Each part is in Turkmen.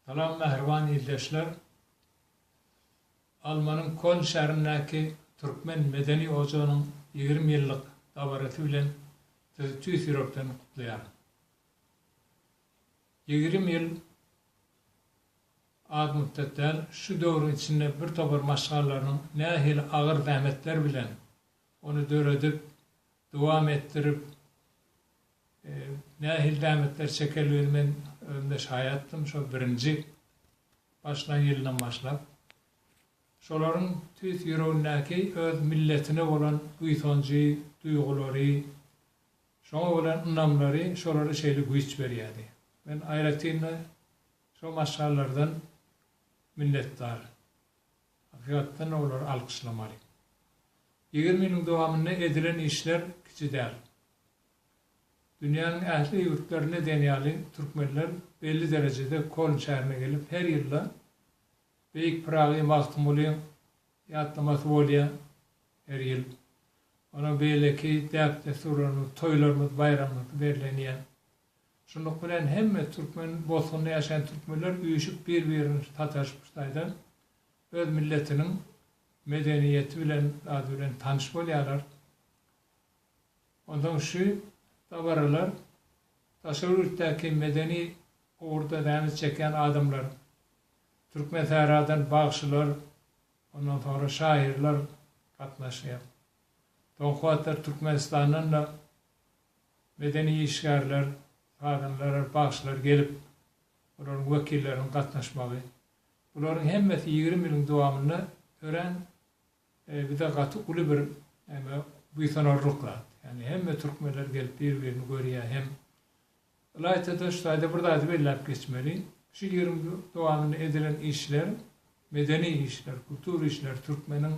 Salam mähriban ildeşler! Almanyň Köln şäherindäki Türkmen medeni ojagynyň ýigrimi ýyllyk dabarasy bilen sizi tüýs ýürekden gutlaýaryn. Ýigrimi ýyl az mütdet däl, şu döwrüň içinde birtopar maşgalalarynyň nähili agyr zähmetler bilen ony döredip, dowam etdirip, nähili zähmetler çekeldigini men özüm-de şaýatdym, şol birinji başlan ýylyndan başlap. Şolaryň tüýs ýüregindäki öz milletine bolan buýsanjy, duýgulary, şoňa bolan ynamlary şolara şeýle güýç berýärdi. Men aýratyn-da şo maşgalalardan minnetdar. Hakykatdan olary alkyşlamaly. Ýigrimi ýylyň dowamynda edilen işler kiçi däl. Dünýäniň ähli ýurtlarynda diýen ýaly türkmenler belli derejede Koln şäherine gelip her ýylda Beýik Pyragy Magtymguly ýatlamasy bolýar her ýyl. Onuň beýleki däp-dessurlarymyz, toýlarymyz, baýramymyz bellenýär. Şunluk bilen hemme türkmen bosgynda ýaşaýan türkmenler üýşüp bir-birini sataşyp-ştaýdan öz milletiniň medeniýeti bilen zady bilen tanyş bolýarlar. Onsoň şu dabaralar daşary ýurtdaky medeni ugurda zähmet çekýän adamlar, Türkmensähradan bagşylar, ondan soňra şahyrlar gatnaşýar. Soňky wagtlar Türkmenistandan-da medeni işgärler, sazandalar, bagşylar gelip, olaryň wekilleriniň gatnaşmagy, bularyň hemmesi ýigrimi ýylyň dowamynda örän bize gaty uly bir näme, buýsanarlyk zat. Ýagny hemme türkmenler gelip bir-birini görýär hem ylaýta-da şu taýda bir zady belläp geçmeli, şu ýigrimi ýyl dowamynda edilen işler, medeni işler, kultur işler türkmeniň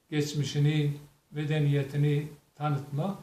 geçmişini, medeniýetini tanytmak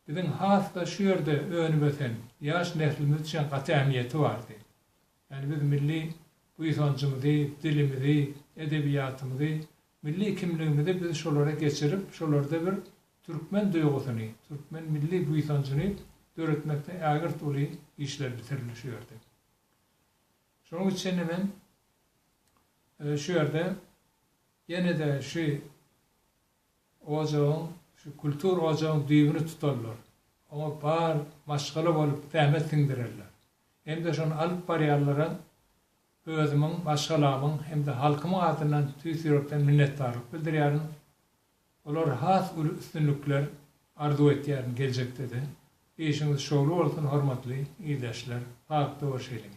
Biziň has-da şu ýerde önüp-ösen ýaş neslimiz üçin gaty ähmiýeti bardy. Ýagny biz milli buýsanjymyzy, dilimizi, edebiýatymyzy, milli kimligimizi biz şolara geçirip, şolarda bir türkmen duýgusyny, türkmen milli buýsanjyny döretmekde ägirt uly işler bitirildi şu ýerde. Şonuň üçin-de men şu ýerde ýene-de şu Ojagyň, şu kultur ojagyň düýbüni tutarlar. Oňa bar maşgala bolup zähmet siňdirerler. Hem-de şony alyp barýanlara özümiň, maşgalamyň hem-de halkymyň adyndan tüýs ýürekden minnetdarlyk bildirýärin. Olara has uly üstünlikler arzuw etýärin geljekde-de. Işiňiz şowly bolsun hormatly ildeşler! Sagakda we şeýlelikde.